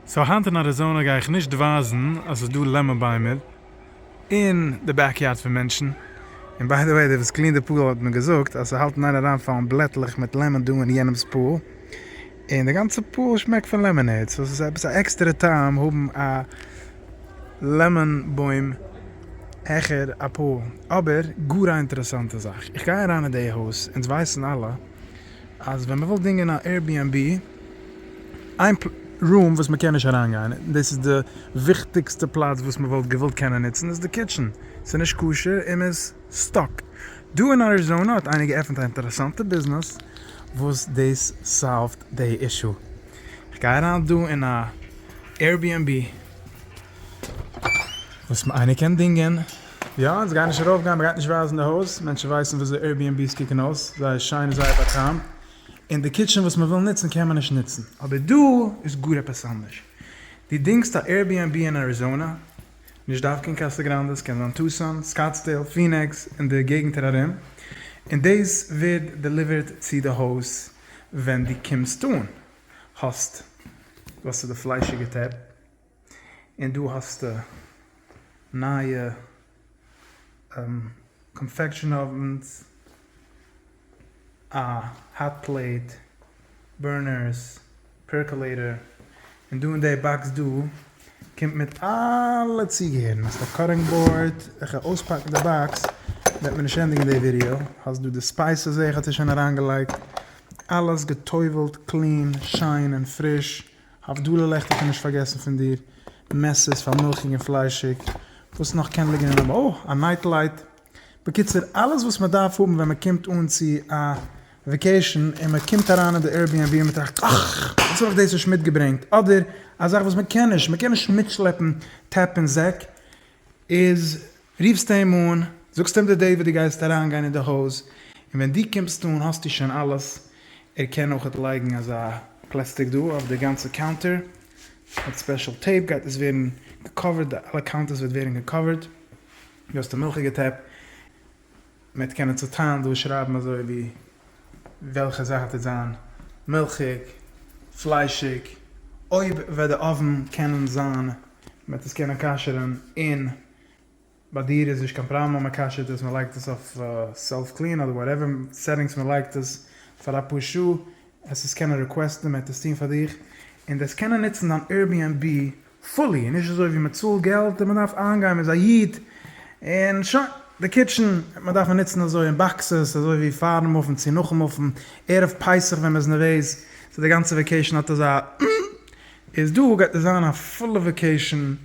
סאו היינט אין אריזאנע גיי איך נישט ווייזן אז ס'איז דא לעמאן ביימער אין די בעק יארד פון מענטשן, און ביי די וועי די וואס קלינט די פול האט מיר געזאגט אז ס'האלט אין איין אריינפאלן בלעטלעך מיט לעמאן דא אין יענעמ'ס פול, און די גאנצע פול שמעקט פון לעמאנעיד, סאו ס'איז עפעס א עקסטערע טעם האבן א לעמאן בוים העכער א פול, אבער גאר א אינטערעסאנטע זאך, איך גיי אריין אין די הויז, אונז ווייסן אלע אז ווען מ'וויל דינגען א עיר בי ענד בי איין רום וואס מ'קען נישט אריינגיין און דאס איז די וויכטיגסטע פלאץ וואס מ'וואלט געוואלט קענען נוצן איז די קיטשען, ס'איז נישט כשר און מ'איז סטאק. דא אין אריזאנע האט איינער געעפנט א אינטערעסאנטע ביזנעס וואס דאס סאלווט די אישו. איך גיי אריין דא אין א עיר בי ענד בי וואס איינער קען דינגען. יא, אונז גייען נישט ארויפגיין, מ'גייט נישט ווייזן די הויז, מענטשן ווייסן וויאזוי עירביענבי'ס קוקן אויס, זייער שיין און זייער באקוועם, און די קיטשען וואס מ'וויל נוצן קען מען נישט נוצן. אבער דא איז גאר עפעס אנדערש, דו דינגסט א עירביענבי אין אריזאנא, נישט דווקא אין קאסא גראנדע, ס'קען זיין טוסאן, סקאטסדעיל, פינעקס, און די געגנטער ארום, און דאס ווערט דעליווערט צו די הויז ווען דו קומסט אן, האסט, וואס איז די פליישיגע טעב? און דא האסטו נייע קאנפעקשאן אווענס, א האט פלעיט, בורנערס, פערקעלעיטער, און דא אין די באקס דא קומט מיט אלע צוגעהערן, האסט א קאטינג באורד, איך וועל אויספאקן די באקס וועט מען נישט ענדיגן די ווידיאו, האסט דא די ספייסעס זעה איך האט איר שוין אריינגעלייגט, אלעס געטובלט קלין שיין און פריש. הבדלה לעכט איך האב נישט פארגעסן פון דיר, מעסערס פאר מילכיג און פליישיג, וואס נאך קען ליגן אינעם אוי, א נייט לייט, בקיצור אלעס וואס מען דארף האבן ווען מען קומט אן צו א וועקעישן און מען קומט אריין אין די עירביענבי און מען טראכט אך, יעצט האב איך דאס נישט מיטגעברענגט, אדער א זאך וואס מען קען נישט, מען קען נישט מיטשלעפן טעפ און זעק, איז רופסט אים אן, זאגסט אים די דעי וואס דו גייסט אריין גיין אין די הויז, און ווען דו קומסט אן האסטו שוין אלעס, ער קען אויכעט לייגן אזא פלעסטיק דא אויף די גאנצע קאונטער, מיט ספעשל טעיפ גייט עס ווערן געקאווערט, די אלע קאונטערס וועט ווערן געקאווערט, דא האסטו מילכיגע טעפ, מ'עט קענען צוטיילן דא שרייבן אזוי ווי וועלכע זאך טוט זיין מילכיג, פליישיג, אויב וועט די אויוון קענען זיין, מ'עט עס קענען כשר'ן, און. ביי דיר איז נישט קיין פראבלעם אז מען כשר'ט עס, מען לייגט עס אויף סעלף קלין אדער וואטעווער סעטינגס מען לייגט עס פאר אפאר שעה, עס איז קענען ריקוועסטן מען וועט עס טון פאר דיך, און דו וועסט קענען נוצן דיין Airbnb פולי, נישט אזוי ווי מען צאלט געלט און מען דארף איינגיין מען איז א איד און שוין, די קיטשען מען דארף מען נוצן אזוי און באקסעס אזוי ווי פארן מופן צו נאכן מופן, ערב פסח ווען מען איז נערוועז, סאו די גאנצע וועקעישאן האט אזא איז דא גייט עס זיין א פולע וועקעישאן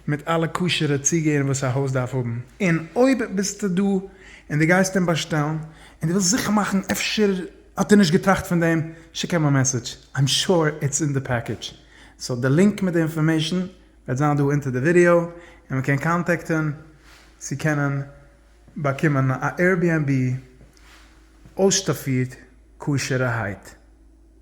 מיט אלע כשר'ע צוגעהערן וואס א הויז דארף האבן, און אויב ביסטו דא און דו גייסט אים באשטעלן און דו ווילסט זיכער מאכן אפשר האט ער נישט געטראכט פון דעם, שיק אים א מעסעדזש, איים שור איטס אין די פעקעדזש. סאו די לינק מיט די אינפארמעישאן וועט זיין דא אונטער די ווידעא, און מען קען קאנטעקטען צו קענען באקומען א עירביענבי אויסשטאפירט כשר'הייט.